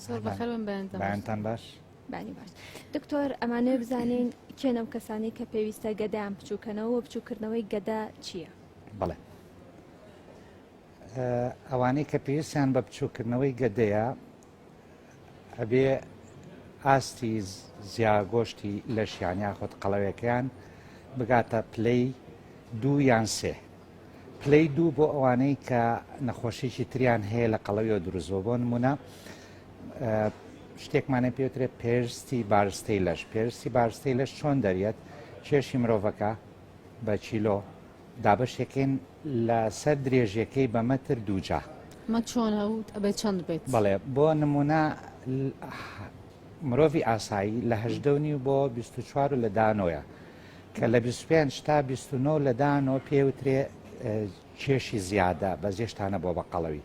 بەیانتان باش بانی باش دکتۆر ئەمانەیە بزانین کێنەم کەسانی کە پێویستە گەدایان بچووکەنەوە بچووکردنەوەی گەدا چییە؟ بڵێ ئەوانەی کە پێویستیان بە بچووکردنەوەی گەدەیە ئەبێ ئاستی زیاگۆشتی لەشیان یاخود قەڵەوەکەیان بگاتە پلەی دوو یان سێ پلەی دوو بۆ ئەوانەی کە نەخۆشیکی تریان هەیە لە قەڵەویەوە دروستبووە بۆ نمونە شتێکمانە پێوترێت پێرستی بارستەی لەش پێرستی بارستەی لەش چۆن دەریێت کێشی مرۆڤەکە بە چیلۆ دابەشێکین لەسەر درێژیەکەی بە مەتر دووجا مە چۆن هەوت ئەبێت چەند بێت بەڵێ بۆ نمونە مرۆڤی ئاسایی لە هەشدەونی بۆ 24 لە دانۆیە کە لە بیست و پێنج تا بیست و نۆ لە دانۆ پێوترێ کێشی زیادە بە زێشتانە بۆ بە قەڵەوی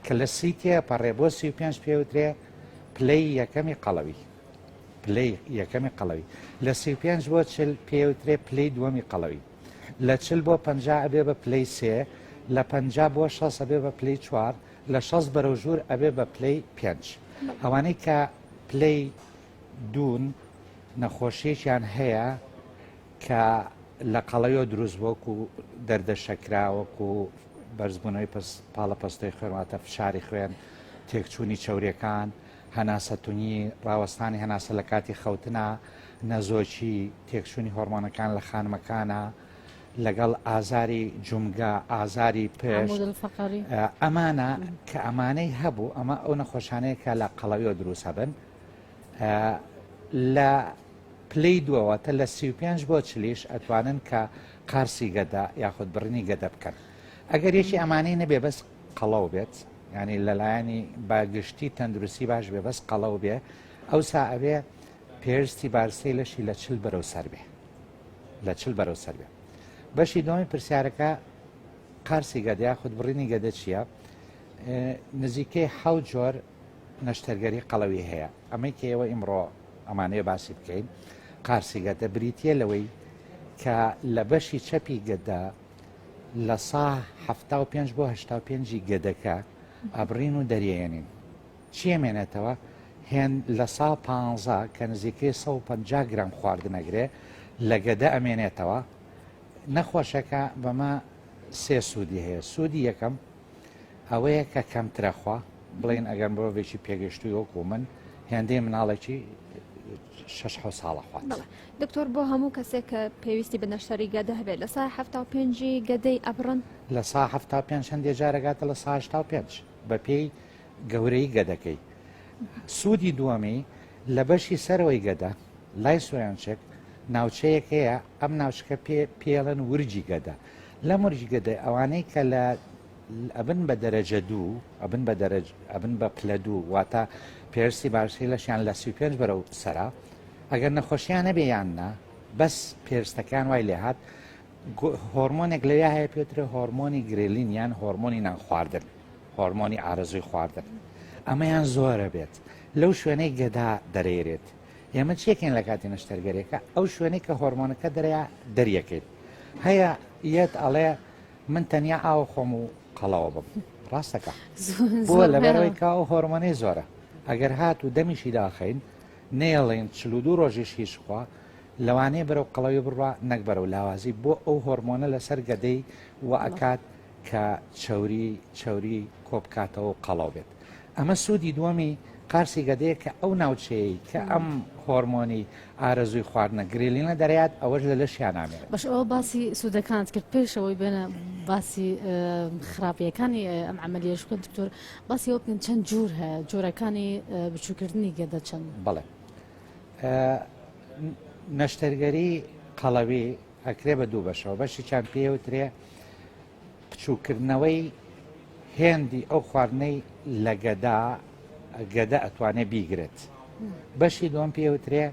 کە لە سی تێ پەڕێ بۆ سی و پێنج پێوترێ پلەی یەکەمی قەڵەوی پلەی یەکەمی قەڵەوی لە سی و پێنج بۆ چل پێوترێ پلەی دووەمی قەڵەوی لە چل بۆ پ ئەبێ بە پلەی سێ لە پ بۆ شەس ئەبێ بە پلەی چوار لە شەس بەرەو ژوور ئەبێ بە پلەی پێنج ئەوانەی کە پلەی دوون، نەخۆشیەکیان هەیە کە لە قەڵەویەوە دروست بووە وەکو دەردە شەکرا وەکو بەرزبوونەوەی پاڵە پەستۆی خوێن واتە فشاری خوێن تێکچوونی چاورەکان هەناسە تونی ڕاوەستانی هەناسە لە کاتی خەوتنا نەزۆکی تێکچوونی هۆرمۆنەکان لە خانمەکانە لەگەڵ ئازاری جومگە ئازاری پێش ئەمانە کە ئەمانەی هەبوو ئەمە ئەو نەخۆشانەیە کە لە قەڵەویەوە دروست هەبن لە پلەی دووە واتە لە سی و پێنج بۆ چلیش ئەتوانن کە قارسی گەدە یاخود بڕینی گەدە بکەن ئەگەر یەکی ئەمانەی نەبێ بەس قەڵەو بێت ینی لەلایەنی باگشتی تەندروستی باش بێ بەس قەڵەو بێ ئەو سا ئەوێ پێستی بارسەی لەشی لە چل بەرەو سەر بێ لە چل بەرەو سەر بێ بەشی دومی پرسیارەکە قارسی گەدە یاخود بڕینی گەدە چییە نزیکەی حەو جۆر نەشتەرگەری قەڵەوی هەیە. ئەمەی کە ئێوە ئیمڕۆ ئەمانەیە باسی بکەین، قارسی گەدە، بریتییە لەوەی کە لە بەشی چەپی گەدە لە سا حەفتا و پێنج بۆ هەشتا و پێنج ی گەدەکە ئەبڕین و دەریێنین. چی ئەمێنێتەوە؟ هێن لە سا پانزە کە نزیکەی سەد و پەنجا گرام خواردن ئەگرێ لە گەدە ئەمێنێتەوە. نەخۆشەکە بەمە سێ سوودی هەیە، سوودی یەکەم، ئەوەیە کە کەمترەخوا بڵێین ئەگەر مرۆڤێکی پێگەشتوی وەکو من هێندەی مناڵێکی شش حو ساڵە خوات دکتۆر بۆ هەموو کەسێک کە پێویستی بە نەشتەری گەدە هەبێت لە سای هەفتا و پێنجی گەدەی ئەبڕن لە سا هەفتا پێ هەندێ جارەگاتە لە ساهشتا و پێنج بە پێی گەورەی گەدەکەی سوودی دووەمی لە بەشی سەرەوەی گەدە لای سۆیانچێک ناوچەیەک هەیە ئەم ناوچکە پێڵن ورجی گەدە لە مورج گەدەی ئەوانەی کە لە ئەبن بە دەرەجە دوو ئەبن بە دەرەج ئەبن بە پلە دوو واتە پێرسی باشی لەشیان لە سی پێنج بەرەو سەرا ئەگەر نەخۆشیان نەبێ یان نا بەس پێرستەکان وای لێ هاات هۆرمۆنێک لە یا هەیە پێترە هۆرمۆنی گرێلین یان هۆرمۆنی نان خواردن هۆرمۆنی ئارەزوی خواردن ئەمەیان زۆرە بێت لەو شوێنەی گەدا دەرێرێت ئێمە چیەکەین لەکاتی نەشتەرگەریەکە ئەو شوێنەی کە هۆرمۆنەکە دەریا دەریەکەیت هەیە یەت ئەڵێ من تەنیا ئاو خۆم و قەڵەوە بم ڕاستەکە بۆ لەبەرەوەی کا و هۆرمۆنەی زۆرە ئەگەر هات و دەمیشی داخین نێڵین چل و دوو ڕۆژیش هیچ خوا لەوانەیە بەرەو قەڵەوی بڕوا نەکبەرەوە لاوازی بۆ ئەو هۆرمۆنە لەسەر گەدەی و ئەکات کە چەوری چەوری کۆبکاتەوە و قەڵەو بێت ئەمە سوودی دووەمی قارسی گەدەیە کە ئەو ناوچەیە کە ئەم هۆرمۆنی ئارەزووی خواردنە گرێلینە دەرات ئەوەش لە لەشیان نامێت بەش ئەوە باسی سوودەکانت کرد پێشەوەی بێنە باسی خراپیەکانی ئەم عملیش بکەن دکتۆر باسی ئەو بکەن چەند جوور هەیە جۆرەکانی بچووکردنی گەدە چەند بڵێ نەشتەرگەری قەڵەوی ئەکرێ بە دوو بەشەوە بەشیچان پێ وترێ پچووکردنەوەی هێندی ئەو خواردنەی لە گەدا گەدە ئەتوانێ بیگرێت بەشی دوم پێ وترێ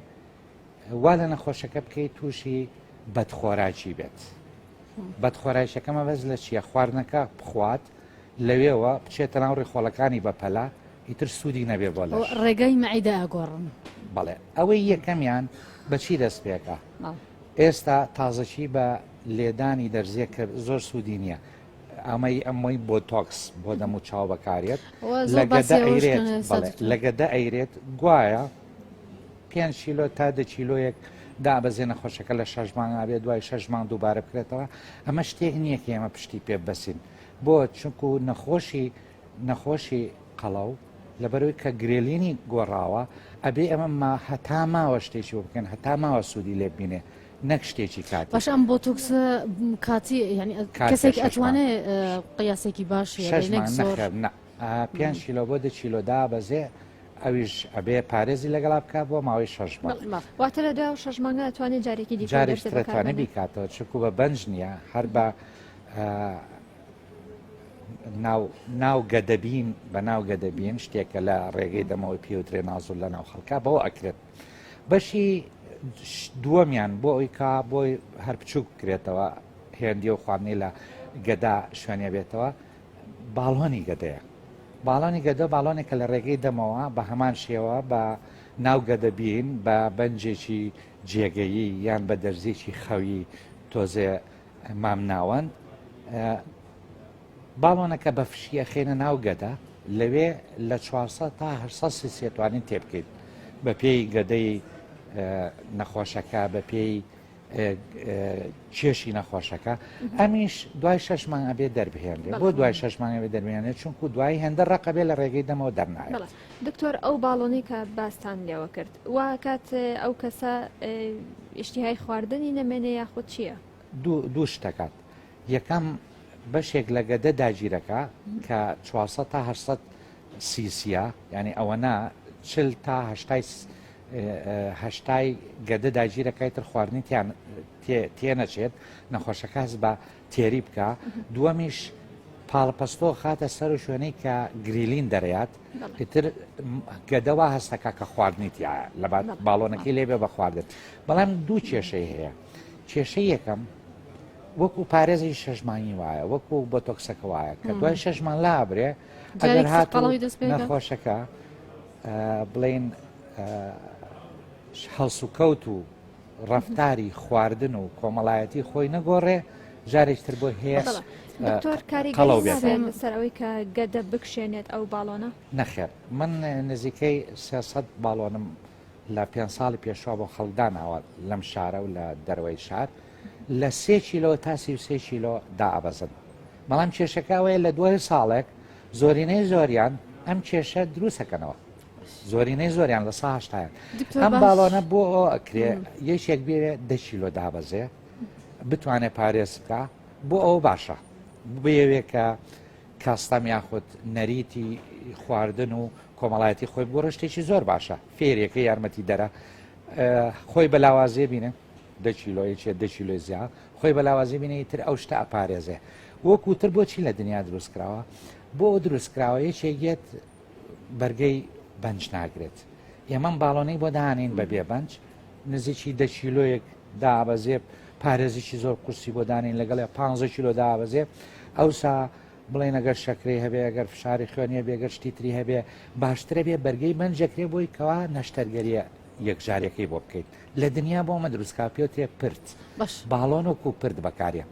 وا لە نەخۆشەکە بکەیت تووشی بەدخۆراکی بێت بەدخۆراکەکەمە بەس لە چیە خواردنەکە بخوات لەوێەوە بچێتە ناو ڕێخۆڵەکانی بەپەلا ئیتر سودی نەبێ بۆ لەش. ڕێگای مەعیدە ئەگۆڕن. بەڵێ ئەوەی یەکەمیان بە چی دەست پێکا؟ ئێستا تازەکی بە لێدانی دەرزیە کە زۆر سوودی نییە ئەمەی ئەمەی بۆ تۆکس بۆ دەم و چاو بەکارێت لە گەدە ئەیرێت گوایە پێ چیلۆ تا دە چیلۆیەک دابەزێنە خۆشەکە لە شەش مانگ ئابێت دوای شەش مانگ دووبارە بکرێتەوە ئەمە شتێک نییە کە ئێمە پشتی پێ بەسین بۆ چونکو نەخۆشی نەخۆشی قەڵەو لەبەرەوەی کە گرێلینی گۆڕاوە ئەبێ ئەمە هەتا ماوە شتێکی بۆ بکەن هەتا ماوە سوودی لێ بینێ نەک شتێکی کات باش ئەم بۆتوکس کاتی ینی کەسێکی ئەتوانێ قیاسێکی باش پێنج کیلۆ بۆ دە کیلۆ دابەزێ ئەویش ئەبێ پارێزی لەگەڵا بکە بۆ ماوەی شەژ واتە لە دا شەژ مانگە ئەتوانێت جارێکی دیجارێکتوانێت بیکاتەوە چکو بە بەنج نییە هەر بە ناو گەدەبین بە ناو گەدەبین شتێکە لە ڕێگەی دەمەوەی پێوترێ نازور لە ناو خەڵکە بەوە ئەکرێت بەشی دووەمیان بۆ ئەوی کا بۆی هەر بچووک بکرێتەوە هێندی و خواندنی لە گەدا شوێنێ بێتەوە باڵۆنی گەدەیە باڵانی گەدە باڵۆنێکە لە ڕێگەی دەمەوە بە هەمان شێوە بە ناو گەدەبین بە بەنجێکی جێگەیی یان بە دەرزێکی خەوی تۆزێ مامناوەند، باڵۆنەکە بە فشی ئەخەینە ناو گەدە، لەوێ لە چوار سەد تا هەشت سەد سیسیە توانین تێبکەین، بەپێی گەدەی نەخۆشەکە بەپێی کێشی نەخۆشەکە ئەمیش دوای شش مانگە بێ دەربهێنێ بۆ دوای شش مانگە بێ دەرمێنێ چونکو دوای هێندە ڕقەبێ لە ڕێگەی دەمەوە دەرنایێت دکتۆر ئەو باڵۆنەی کە باستان لێوە کرد واکات ئەو کەسە ئیشتیهای خواردنی نەمێنێ یاخود چییە؟ دوو شتەکات یەکەم بەشێک لە گەدە داگیرەکە کە 400 تا 800 سیسیە ینی ئەوەنا چل تا هەشتای گەدە داگیرەکەی تر خواردنی تێنەچێت نەخۆشەکە هەز بە تێری بکا دووەمیش پاڵپەستۆ خاتە سەر و شوێنەی کە گریلین دەرێات ئیتر گەدەوا هەستەکە کە خواردنی تیا لە باڵۆنەکەی لێبێ بە خواردن بەڵام دوو کێشەی هەیە کێشەی یەکەم وەکو پارێزی شەژمانی وایە وەکو بۆ تۆکسەکە وایە کە دوای شەژمان لابرێ ئەگەر هات نەخۆشەکە بڵین هەڵسوکەوت و ڕەفتاری خواردن و کۆمەڵایەتی خۆی نەگۆڕێ جارێک تر بۆ هێش دکتۆر کاری قەڵەو بێت. نابێت لەسەر ئەوەی کە گەدە بکشێنێت ئەو باڵۆنە نەخێر من نزیکەی 300 باڵۆنم لە پێ ساڵی پێشوا بۆ خەڵداناوە لەم شارە و لە دەروەی شار لە سێ کیلۆ تا سی و سێ کیلۆ دائەبەزن بەڵام کێشەکەوەیە لە دوای ساڵێک زۆرینەی زۆریان ئەم کێشە دروستەکەنەوە زۆرینەی زۆریان لە سا هەشتایان ئەم باڵۆنە بۆ ئەو ئەکرێ یەکێک بێ دەشیلۆ دابەزێ بتوانێت پارێز بکە بۆ ئەو باشە بێوێ کە کاستەم یاخود نەریتی خواردن و کۆمەڵایەتی خۆی بۆ ڕشتێکی زۆر باشە فێرێکە یارمەتی دەرە خۆی بە لاوازێ بینێ دەچیلۆی چێ دەچیلۆی زیا خۆی بە لاوازی بینێ تر ئەو شتە ئەپارێزێ وەکوتر بۆچی لە دنیا دروستکراوە بۆ دروستکراوە یەکێگێت بەرگەی بەنج ناگرێت ئێمەم باڵۆنەی بۆ دانین بە بێ بەنج نزیکی دە کیلۆیەک دابەزێ پارێزیی زۆر قورسی بۆ دانین لەگەڵ 15 کیلۆ دابەزێ ئەوسا بڵێن ئەگەر شەکری هەبێ ئەگەر فشاری خوێنیە بێگەر شتی تری هەبێ باشترە بێ بەرگەی بەنجەکرێ بۆی کەوا نەشتەرگەریە یەکجارەکەی بۆ بکەیت لە دنیا بۆ مە دروستکە پێوتێ پرت باڵۆن و کو پرت بەکارە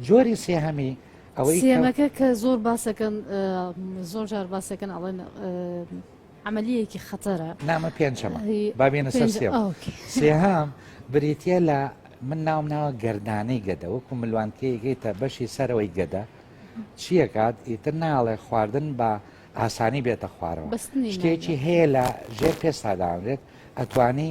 جۆری سێهەمی سێیەمەکە کە زۆر باسەکەن زۆر جار باسەکەن ئەڵێن عملیەکی خەتەرە نامە پێنجەمە بابێنە سەر سێهام بریتە لە من ناوم ناوە گەردانەی گەدە وەکو ملوانکەیەکەیتە بەشی سەرەوەی گەدە چیەکات ئیتر ناڵێ خواردن بە ئاسانی بێتە خوارەوە شتێکی هەیە لە ژێر پێستاداێت ئەتوانی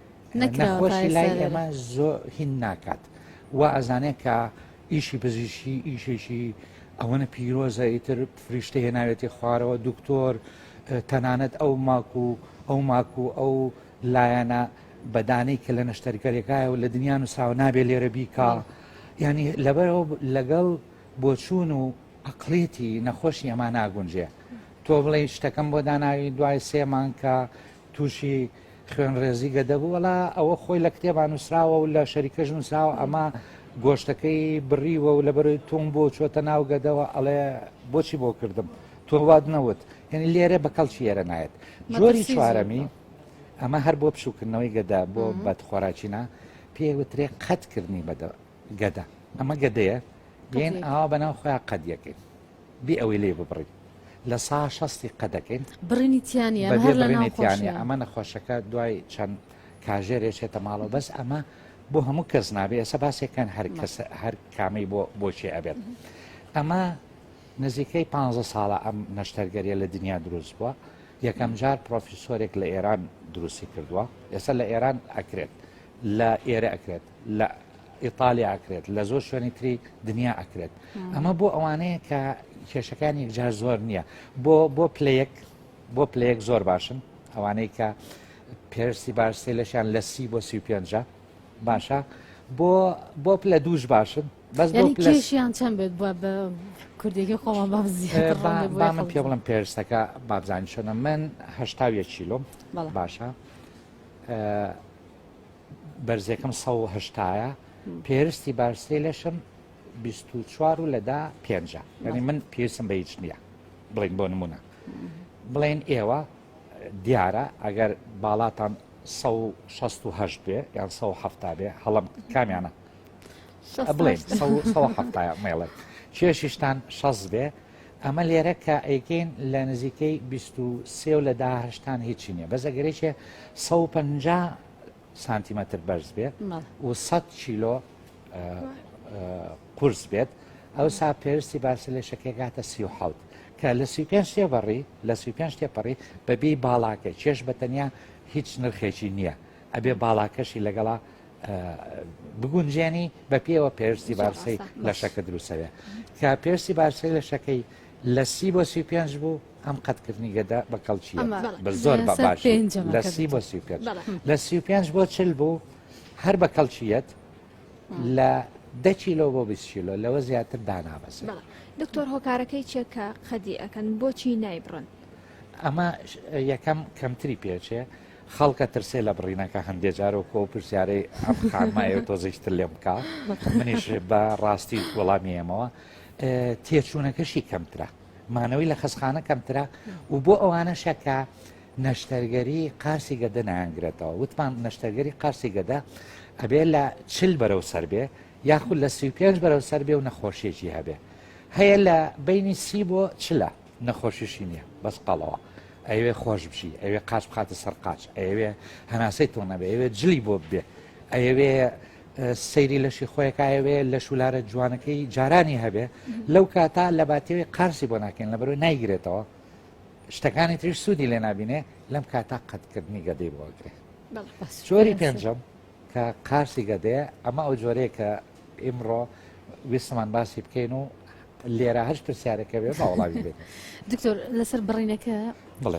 نەکراوە تا ئێستا نەخۆشی لای لێرە. ئێمە زۆ هین ناکات و ئەزانێت کە ئیشی پزیشی ئیشێکی ئەوەنە پیرۆزە ئیتر فریشتە هێناوێتی خوارەوە دکتۆر اه، تەنانەت ئەو ماک و ئەو ماک و ئەو لایەنە بەدانەی کە لە نەشتەرگەرێکایە و لە دنیا و ساو نابێ لێرە بیکا بەڵێ. ینی لەبەرەوە ب- لەگەڵ بۆچوون و عقلێتی نەخۆشی ئەما ناگونجێ تۆ بڵێ شتەکەم بۆ داناوی دوای سێ مانکە توشی خوێن ڕێزی گەدە بوو وەڵا ئەوە خۆی لە کتێبان نووسراوە و لە شەریکەش نووسراوە ئەمە گۆشتەکەی بڕیوە و لە بەرەوەی تۆم بۆ چۆتە ناو گەدەوە ئەڵێ بۆچی بۆ کردم تۆ واد نەوت یعنی لێرە بە کەڵکی ئێرە نایەت جۆری چوارەمی ئەمە هەر بۆ پشوکردنەوەی گەدا بۆ بەدخۆراکینا پێوترێ قەتکردنی بەدە گەدە ئەمە گەدەیە بێن ئاوا بەناو خۆیان قەد یەکەین بێ ئەوەی لێ ببڕین لە سا شەستی قەدەکەین بڕینی تیانیانیانە ئەمە نەخۆشەکە دوای چەند کاژێرێ چێتە ماڵەوە بەس ئەمە بۆ هەموو کەس نابێ ئێستا باسێکەن هەر کەس هەر کامەی بۆ بۆچێ ئەبێت ئەمە نزیکەی 15 ساڵە ئەم نەشتەرگەریە لە دنیا دروست بووە یەکەم جار پرۆفیسۆرێک لە ئێران دروستی کردووە ئێستا لە ئێران ئەکرێت لە ئێرە ئەکرێت لە ئیتالیا ئەکرێت لە زۆر شوێنی تری دنیا ئەکرێت ئەمە بۆ ئەوانەیە کە کێشەکان یەکجار زۆر نییە بۆ بۆ پلەیەک بۆ پلەیەک زۆر باشن ئەوانەی کە پێرسی باش سێلەشیان لە سی بۆ سی پێنج باشە بۆ بۆ پلە دووش باشن بەس کێشیان چەند بێت بە کوردێکی خۆمان با من پێ بڵم پێرسەکە بابزانانی شەنە من هەشتاویە چیلۆم باشە بەرزێکم سەد و هەشتایە پێرستی بارستی لەشم بیست و چوار و لەدا پێنجە یعنی من پێسم بە هیچ نییە بڵین بۆ نمونە بڵێن ئێوە دیارە ئەگەر باڵاتان 16 بێ یان 1970 بێ هەڵم کامیانە بڵێ مێڵێ کێشیشتان شەز بێ ئەمە لێرە کە ئەیکەین لە نزیکەی 23 و لە داهشتان هیچی نیە بەزەگەرێکێ 150 سانتیمەتر بەرز بێت و 100 کیلۆ قورس بێت ئەوسا پێویستی باسی لە شەکێکاتە سی و حوت کە لە سی پێ تێبڕی لە سی پێ تێپەڕی بەبی باڵاکە چێش بە تەنیا هیچ نرخێکی نییە ئەبێ باڵاکەشی لەگەڵا بگونجێنی بە پێوە پێویستی بارسەی لە شەکە دروستەوێ کە پێویستی بارسەی لە شەکەی لە سی بۆ سی پێنج بوو ئەم قەتکردنی گەدە بە کەڵکییە ئەمە بە زۆر بە لەسەر باشی پێنجەمە لە کە سی بۆ دەتەوە. سی و پێنج بەڵێ. لە سی و پێنج بۆ چل بوو هەر بە کەڵکیەت لە دە کیلۆ بۆ 20 کیلۆ لەوە زیاتر دانابەزێت بەڵێ دکتۆر هۆکارەکەی چیە کە قەدی ئەەکەن بۆچی نایبڕن ئەمە ش- یەکەم کەمتری پێچێ خەڵکە ترسێ لە بڕینەکە هەندێ جارۆکۆ پرسیارەی ئەم خانمایە و تۆزیشتر لێم بکە منیش بە ڕاستی وەڵامی ئێمەوە ئه، تێچوونەکەشی کەمترە مانەوەی لە خەسخانە کەمترە و بۆ ئەوانەشە کە نەشتەرگەری قارسی گەدە نایانگرێتەوە وتمان نەشتەرگەری قارسی گەدە ئەبێ لە چل بەرەو سەر بێ یاخود لە سی پێنج بەرەو سەر بێ و نەخۆشیێکی هەبێ هەیە لە بینی سی بۆ چلە نەخۆشیشی نییە بەس قەڵەوە ئەوێ خۆش بژی ئەوێ قاچ بخاتە سەر قاچ ئەوێ هەناسەی تۆ نەبێ ئەوێ جلی بۆ بێ ئەوێ سەیری لەشی خۆیەکایەوێ لە شولارە جوانەکەی جارانی هەبێ لەو کاتا لە باتێوێ قارسی بۆ ناکەین لە بەرەوەی نایگرێتەوە شتەکانی تریش سوودی لێ نبینێ لەم کاتا قەتکردنی گەدەی بۆگرێ چۆری پێنجەم کە قارسی گەدەیە ئەمە ئەو جۆرەیە کە ئیمڕۆ ویستمان باسی بکەین و لێرە هەش پرسیارەکە بێ باوەڵاوی بێت دکتۆر لەسەر بڕینەکە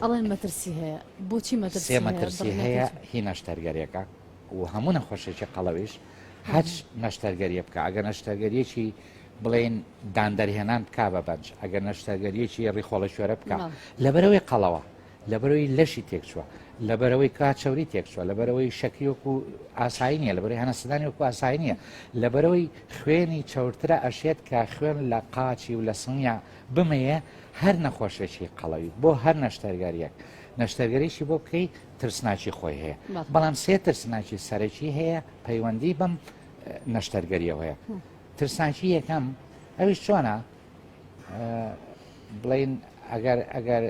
ئەڵێن مەترسی هەیە بۆچی مەترسی مەترسی هەیە هی ناشتەرگەرەکە و هەموو نەخۆشێکی قەڵەویش هەر نەشتەرگەریە بکە ئەگەر نەشتەرگەریەکی بڵێن داندەرهێنان بک بە بەنج ئەگەر نەشتەرگەریەکی ڕیخۆڵە شوێرە بکە لەبەرەوەی قەڵەوە لەبەرەوەی لەشی تێکچووە لەبەرەوەی کا چاوری تێکچووە لەبەرەوەی شەکیۆک و ئاسایی نیە لەبەر هەنەسەدانی وەکو ئاسایی نیە لەبەرەوەی خوێنی چاورترە ئەشێت کە خوێن لە قاچی و لە سنگە بمەیە هەر نەخۆشێکی قەڵەوی بۆ هەر نەشتەرگەریەک نەشتەرگەریشی بۆ بکەیت ترسناکی خۆی هەیە بەڵام سێ ترسناکی سەرەکی هەیە پەیوەندی بەم نەشتەرگەریەوە هەیە ترسناکی یەکەم ئەوی چۆنە بڵین ئەگەر ئەگەر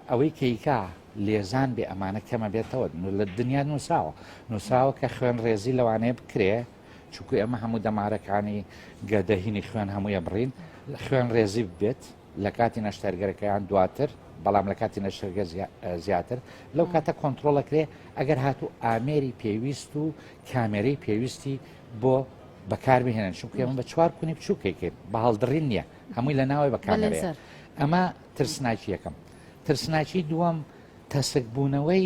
ئەوەی کەیکا لێزان بێ ئەمانە کەمە بێتەوە لە دنیا نووسراوە نووسراوە کە خوێن ڕێزی لەوانەیە بکرێ چکو ئەمە هەموو دەمارەکانی گەدەهینی خوێن هەموویە بڕین خوێن ڕێزی بێت لەکاتی نەشتەرگەرەکەیان دواتر بەڵام لە کاتی نەشتەرگە زیاتر لەو کاتە کۆنتترۆڵەکرێ ئەگەر هاتوو ئامێری پێویست و کامێرەی پێویستی بۆ بەکاربهێنن چونکە ئێمە بە چوار کونی بچووکێکێت بە هەڵدڕین نییە هەمووی لە ناوەوەی بەکانەوە ئەمە ترسناکی یەکەم ترسناکی دووەم تەسک بوونەوەی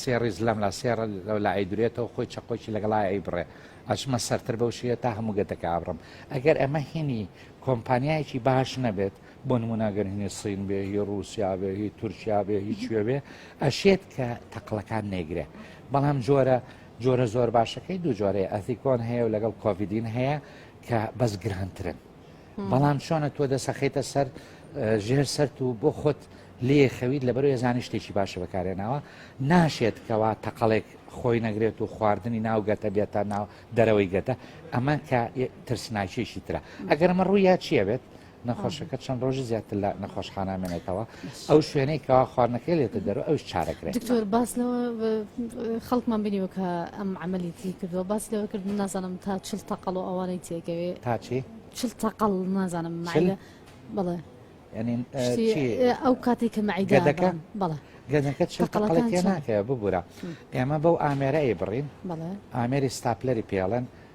سێ ڕیز لەملا سێ ڕە لەولا ئەیدرێتەوە خۆی چەقۆکی لەگەڵا ئەیبڕێ ئەچمە سەرتر بەو شێە تا هەموو گەتەکە ئابڕم ئەگەر ئەمە هینی کۆمپانیایەکی باش نەبێت بۆ نموناگەر هینی سین بێ هی ڕوسیا بێ هی تورکیا بێ هی کوێ بێ ئەشێت کە تەقلەکان نێگرێ بەڵام جۆرە جۆرە زۆر باشەکەی دوو جۆرەیە ئەثیکۆن هەیە و لەگەڵ کۆڤیدین هەیە کە بەس گرانترن بەڵام چۆنە تۆ دەسەخیتە سەر ژێر سەرت و بۆ خۆت لێ خەویت لە بەرو ێزانی شتێکی باشە بەکارێناوە ناشێت کەوا تەقەڵێک خۆی نەگرێت و خواردنی ناوگەتە بێتە ناو دەرەوەی گەتە ئەمە کە ترسناکیێکی ترە ئەگەرمە ڕوویا چیە بێت نەخۆشەکە چەند ڕۆژی زیاتر لە نەخۆشخانامێنێتەوە ئەو شوێنەی کەوا خواردنەکەی لێتە دەرەوە ئەوش چارەکرێت دکتۆر باس لەوە خەڵکمان بینیوە کە ئەم عملی تری کردووە باس لەوە کرد من نازانم تا چل تەقل و ئەوانەی تێگەوێ تاچی چل تەقل نازانم معدە بڵێ ینی ئەو کاتی کە معیدەکە بڵێ گەنەکە چل تەقلە تێ ناکەوە ببوورە ئێمە بەو ئامێرە ئەی بڕین ئامێری ستاپلەری پێڵێن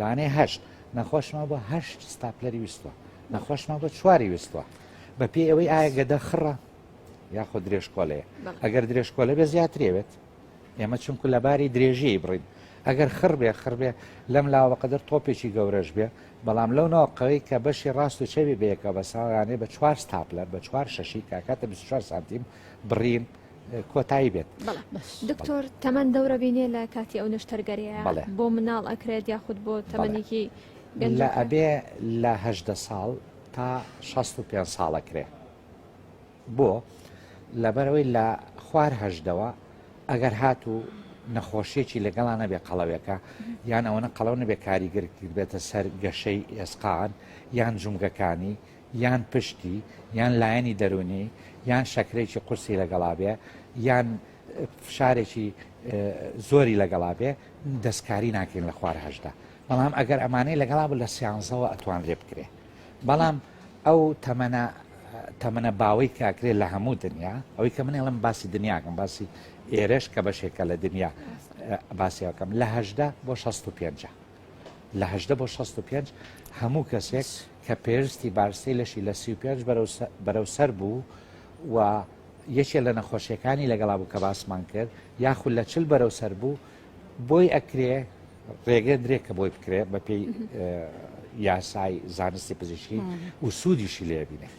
لانەی هەشت نەخۆشمان بۆ هەشت ستاپلەری ویستوە نەخۆشمان بۆ چواری ویستوە بە پێ ئەوەی ئایا گەدە خڕە یاخۆ درێژکۆلەیە ئەگەر درێژکۆلە بێ زیاترێوێت ئێمە چونکو لە باری درێژیی بڕین ئەگەر خڕ بێ خڕ بێ لەم لاوە قەدەر تۆپێکی گەورەش بێ بەڵام لەو ناوقەوەی کە بەشی ڕاست و چەوی بەیەکەوە بە ساوانێ بە چوار ستاپلەر بە چوار شەشی کاکاتە 24 سانتیم بڕین کۆتایی بێت دکتۆر تەمەەن دەورە بینێ لە کاتی ئەو نشتەرگەریە بۆ مناڵ ئەکرێت یاخود بۆ تەمەنێکی لە ئەبێ لەهدە ساڵ تا 65 ساڵە کرێ بۆ لەبەرەوەی لە خوارهدەوە ئەگەر هاتوو نەخۆشیێکی لەگەڵا نەبێ قەڵەوێکە یان ئەوەنە قەڵەو نەبێ کاریگەرکرد بێتە سەر گەشەی ئێسقان یان جومگەکانی یان پشتی یان لایەنی دەروونی یان شەکرەیەکی قورسی لەگەڵا بێ یان فشارێکی زۆری لەگەڵا بێ دەستکاری ناکەین لە خوار هەشدا بەڵام ئەگەر ئەمانەی لەگەڵا بوو لە سیانزەوە ئەتوان لێ بکرێ بەڵام ئەو تەمەە تەمەە باوەی کاکرێت لە هەموو دنیا ئەوەی کە منێڵم باسی دنیاکەم باسی ئێرش کە بەشێکە لە دنیا باسیەکەم لە هەشدا بۆ 16 پێ. لە هەژدە بۆ شەست و پێنج هەموو کەسێک کە پێرستی بارستەی لەشی لە سی و پێنج بەرەو سەر بوو و یەکێ لە نەخۆشیەکانی لەگەڵا بوو کە باسمان کرد یاخود لە چل بەرەو سەر بوو بۆی ئەکرێ ڕێگە درێک کە بۆی بکرێت بەپێی یاسای زانستی پزیشکی و سوودیشی لێبینێت.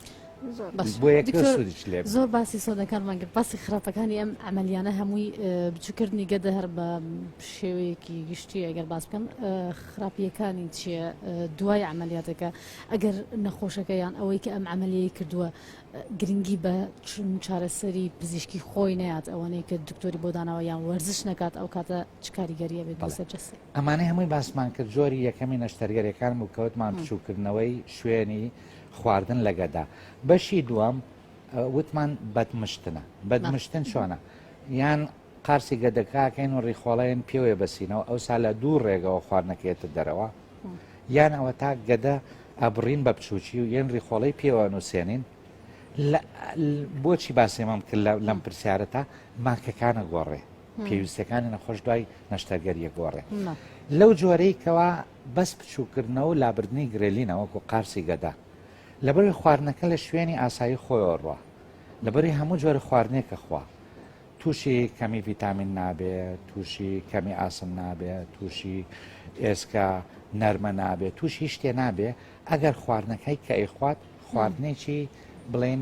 زۆر باسی سۆدەکانمان کرد باسی خراپەکانی ئەم ئەمەلیانە هەمووی بچووکردنی گەدە هەر بە شێوەیەکی گشتی ئەگەر باس بکەم خراپیەکانی چییە دوای ئەمەلیاتەکە ئەگەر نەخۆشەکە یان ئەوەی کە ئەم ئەمەلیەی کردووە گرنگی بە چون چارەسەری پزیشکی خۆی نات ئەوانەیە کە دکتۆری بۆ داناوە یان وەرزش نکات ئەو کاتە چ کاریگەریە بێت بەسەر جەستی ئەمانەی هەمووی باسمان کرد جۆری یەکەمی نەشتەرگەرەکان و کەوتمان بچووکردنەوەی شوێنی خواردن لە گەدا بەشی دووەم وتمان بەدمشتنە بەدمشتن چۆنە یان قارسی گەدەکەکەین و ڕیخۆڵەن پێوەێ بەسینەوە ئەو سا لە دوو ڕێگەوە خواردنەکەێتە دەرەوە یان ئەوە تا گەدە ئەبڕین بە بچووکی و یەن ڕیخۆڵی پێوە نووسێنین بۆچی باسێمەم کرد لەم پرسیارە تا ماکەکانە گۆڕێ پێویستەکانی نەخۆش دوای نەشتەرگەریە گۆڕێ لەو جۆرەی کەوا بەس بچووککردنەوە و لابردنی گرێلینە وەکو قارچی گەدە لەبەروی خواردنەکە لە شوێنی ئاسایی خۆیەوە ڕوا لەبەروی هەموو جۆرە خواردنێکە خوا تووشی کەمی ڤیتامین نابێ تووشی کەمی ئاسن نابێ تووشی ئێسکە نەرمە نابێ تووش هیچ شتێ نابێ ئەگەر خواردنەکەی کە ئەیخوات خواردنێکی بڵێن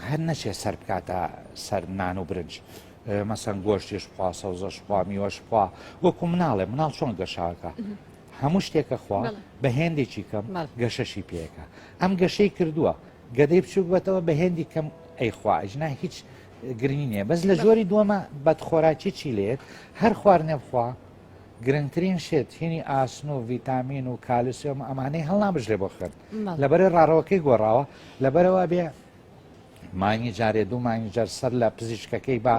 هەر نەچێ سەر بکاتە سەر نان و برنج مەسەن گۆشتیش بخوا سەوزەش بخوا میوەش بخوا وەکو مناڵێ مناڵ چۆن گەشاکە هەموو شتێکە خوا بە هێندێکی کەم گەشەشی پێەکە ئەم گەشەی کردووە گەدەی بچووک بەتەوە بە هێندی کەم ئەیخوا ئەجنا هیچ گرنگی نیە بەس لە جۆری دووەمە بەدخۆراکی چی لێت هەر خوار نەبخوا گرنگترین شێت هینی ئاسن و ڤیتامین و کالسیۆم ئەمانەی هەڵنابژێ بۆ خوێن لەبەر ڕاڕەوەکەی گۆڕاوە لەبەرەوە بێ مانگی جارێ دوو مانگی جار سەر لە پزیشکەکەی با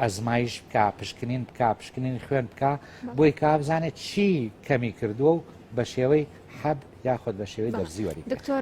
ئەزمایش بکە پشکنین بکە پشکنین خوێن بکە بۆی کا بزانێت چی کەمی کردووە و بە شێوەی حەب یاخود بە شێوەی دەرزیوەری دکتۆر